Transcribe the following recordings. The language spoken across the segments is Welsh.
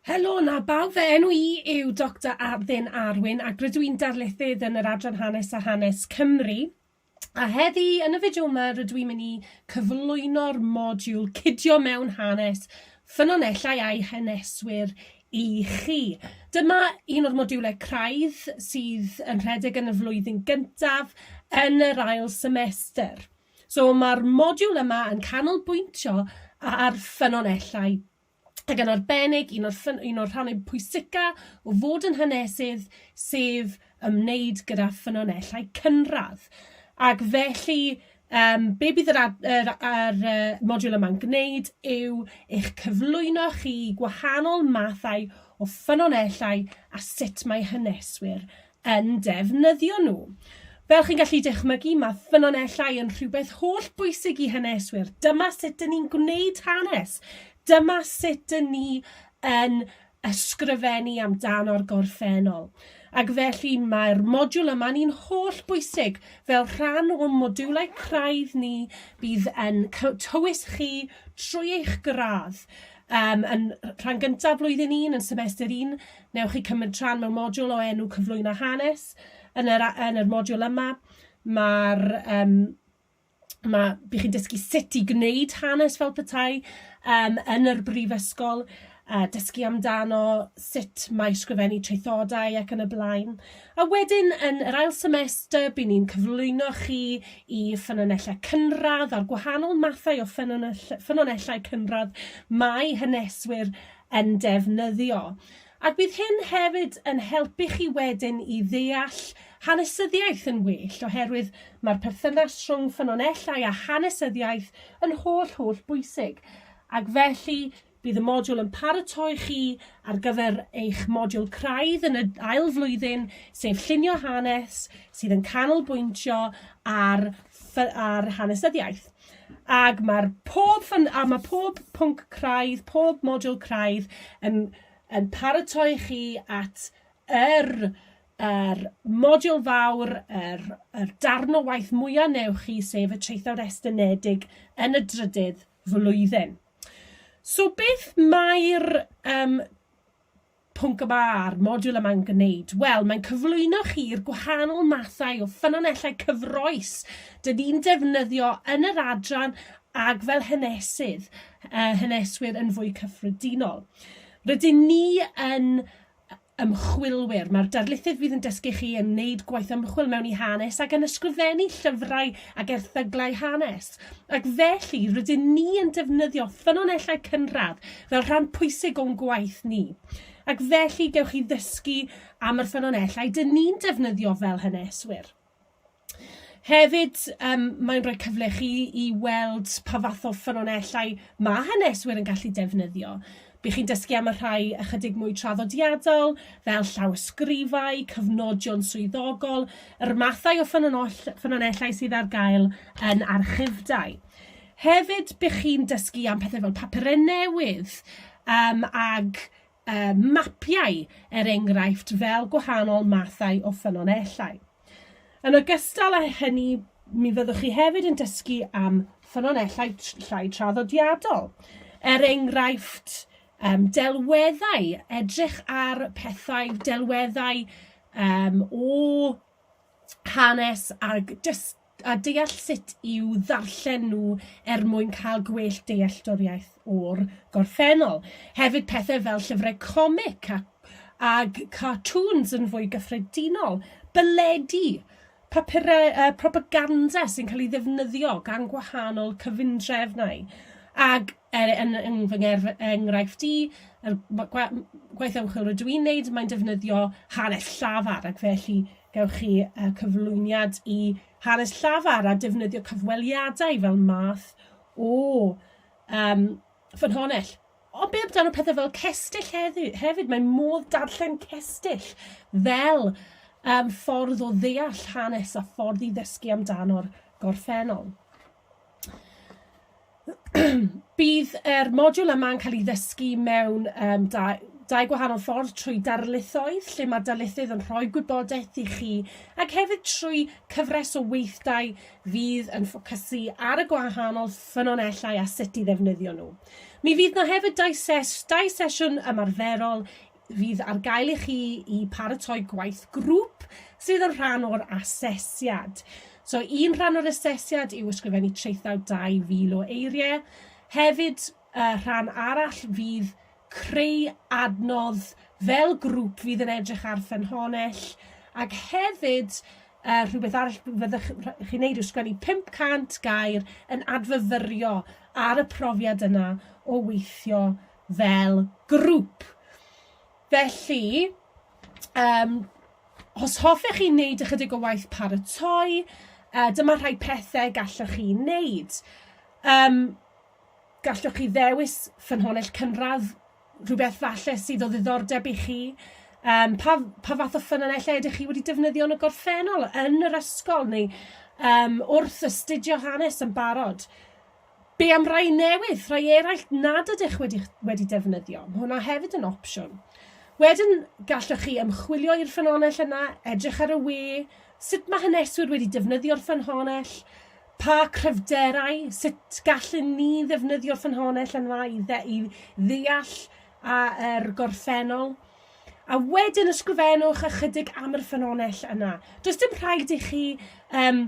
Helo 'na bawb, fy enw i yw Doctor Athin Arwyn ac rydw i'n darlithydd yn yr Adran Hanes a Hanes Cymru. A heddi, yn y fideo yma, rydw i'n mynd i cyflwyno'r modiwl Cydio Mewn Hanes, Ffynonellau a'i Haneswyr i chi. Dyma un o'r modiwlau craidd sydd yn rhedeg yn y flwyddyn gyntaf yn yr ail semester. So mae'r modiwl yma yn canolbwyntio ar ffynonellau, ac yn arbennig un o'r, un o'r rhannau pwysica o fod yn hanesydd, sef ymwneud gyda ffynonellau cynradd. Ac felly, um, be bydd yr, ad, yr, yr uh, modiwl yma'n gwneud yw eich cyflwyno chi gwahanol mathau o ffynonellau a sut mae haneswyr yn defnyddio nhw. Fel chi'n gallu dychmygu, mae ffynonellau yn rhywbeth holl bwysig i haneswyr. Dyma sut dyn ni'n gwneud hanes. Dyma sut dyn ni yn ysgrifennu amdano'r gorffennol. Ac felly mae'r modiwl yma ni'n holl bwysig fel rhan o modiwlau craidd ni bydd yn tywys chi trwy eich gradd um, yn rhan gyntaf flwyddyn 1, yn semester 1, Wnewch chi cymryd rhan mewn modiwl o enw Cyflwyno Hanes. Yn yr, yn yr modiwl yma, mae'r um, mae, bych chi'n dysgu sut i gwneud hanes fel petai um, yn yr brifysgol, a dysgu amdano sut mae sgrifennu traethodau ac yn y blaen. A wedyn, yn yr ail semester, bydd ni'n cyflwyno chi i ffynonellau cynradd a'r gwahanol mathau o ffynonellau cynradd mae haneswyr yn defnyddio. Ac bydd hyn hefyd yn helpu chi wedyn i ddeall hanesyddiaeth yn well, oherwydd mae'r perthynas rhwng ffynonellau a hanesyddiaeth yn holl, holl bwysig. Ac felly, bydd y modiwl yn paratoi chi ar gyfer eich modiwl craidd yn y ail flwyddyn, sef Llunio Hanes, sydd yn canolbwyntio ar, ar hanesyddiaeth. Ac mae'r pob ffyn... a mae pob pwnc craidd, pob modiwl craidd yn, yn paratoi chi at yr, yr modiwl fawr, yr, yr darn o waith mwyaf neu chi, sef y traethawd estynedig yn y drydydd flwyddyn. So beth mae'r um, Pwnc y Mae'r modiwl yma'n gwneud, wel, mae'n cyflwyno chi i'r gwahanol mathau o ffynonellau cyffroes dyn ni'n defnyddio yn yr adran ac fel hanesydd, uh, haneswyr yn fwy cyffredinol. Rydyn ni yn ymchwilwyr. Mae'r darlithydd fydd yn dysgu chi yn wneud gwaith ymchwil mewn i hanes ac yn ysgrifennu llyfrau ac erthyglau hanes. ac felly rydyn ni yn defnyddio ffynonellau cynradd fel rhan pwysig o'n gwaith ni. Ac felly gewch chi ddysgu am yr ffynonellau dyn ni'n defnyddio fel haneswyr. Hefyd, um, mae'n rhoi cyfle chi i weld pa fath o ffynonellau mae haneswyr yn gallu defnyddio. Bydd chi'n dysgu am y rhai ychydig mwy traddodiadol, fel llawysgrifau, cyfnodion swyddogol, yr mathau o ffynonellau sydd ar gael yn archifdai. Hefyd, bydd chi'n dysgu am pethau fel papurau newydd um, ag uh, mapiau, er enghraifft, fel gwahanol mathau o ffynonellau. Yn ogystal â hynny, mi fyddwch chi hefyd yn dysgu am ffynonellau llai traddodiadol. Er enghraifft, um, delweddau, edrych ar pethau, delweddau um, o hanes ag dysgu a deall sut i'w ddarllen nhw er mwyn cael gwell dealltwriaeth o'r gorffennol. Hefyd pethau fel llyfrau comic ac ag cartŵns yn fwy gyffredinol, byledi, papurau uh, propaganda sy'n cael ei ddefnyddio gan gwahanol cyfundrefnau, ag er, yn, yn fy enghraifft i, er, gwaith ymchwil rydw i'n neud, mae'n defnyddio hanes llafar ac felly Gewch chi cyflwyniad i hanes llafar a defnyddio cyfweliadau fel math o um, ffynhonnell. Ond be amdano pethau fel cestyll hefyd? Mae modd darllen cestyll fel um, ffordd o ddeall hanes a ffordd i ddysgu amdano'r gorffennol. Bydd yr modiwl yma'n cael ei ddysgu mewn um, dau, dau gwahanol ffordd trwy darlithoedd lle mae darlithydd yn rhoi gwybodaeth i chi ac hefyd trwy cyfres o weithdai fydd yn ffocysu ar y gwahanol ffynonellau a sut i ddefnyddio nhw. Mi fydd na hefyd dau, ses, dau sesiwn ymarferol fydd ar gael i chi i paratoi gwaith grŵp sydd yn rhan o'r asesiad. So un rhan o'r asesiad yw ysgrifennu traethawd 2,000 o eiriau. Hefyd, uh, rhan arall fydd creu adnodd fel grŵp fydd yn edrych ar ffynhonnell ac hefyd uh, rhywbeth arall fyddwch chi'n neud yw sgwennu 500 gair yn adfyfyrio ar y profiad yna o weithio fel grŵp. Felly, um, os hoffech chi wneud ychydig o waith paratoi, uh, dyma rhai pethau gallwch chi wneud. Um, gallwch chi ddewis ffynhonnell cynradd, rhywbeth falle sydd o ddiddordeb i chi. Um, pa, pa fath o ffynhonnellau ydych chi wedi defnyddio yn y gorffennol, yn yr ysgol neu um, wrth astudio hanes yn barod? Be am rai newydd, rhai eraill nad ydych wedi, wedi defnyddio? Mae hwnna hefyd yn opsiwn. Wedyn, gallwch chi ymchwilio i'r ffynhonnell yna, edrych ar y we, sut mae haneswyr wedi defnyddio'r ffynhonnell, pa cryfderau, sut gallwn ni ddefnyddio'r ffynhonnell yna i, dde, i ddeall a, er gorffennol. A wedyn ysgrifennwch ychydig am yr ffynhonnell yna. Does dim rhaid i chi um,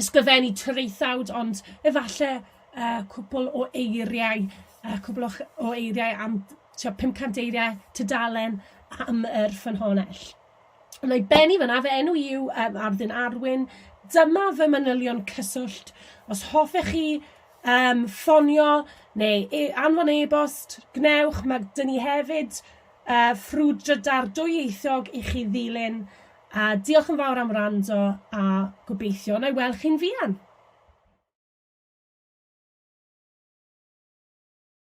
ysgrifennu traethawd ond efalle yy cwpwl o eiriau yy cwpwl o'ch o eiriau am tua 500 eiriau tudalen am yr ffynhonnell. Wna i bennu fan 'na, fy enw i yw yym Arddun Arwyn, dyma fy manylion cyswllt, os hoffech chi yym ffonio neu e- anfon e-bost, gwnewch, ma' 'dyn ni hefyd A ffrwdrydar dwyieithog i chi ddilyn a diolch yn fawr am wrando a gobeithio na'i weld chi'n fuan.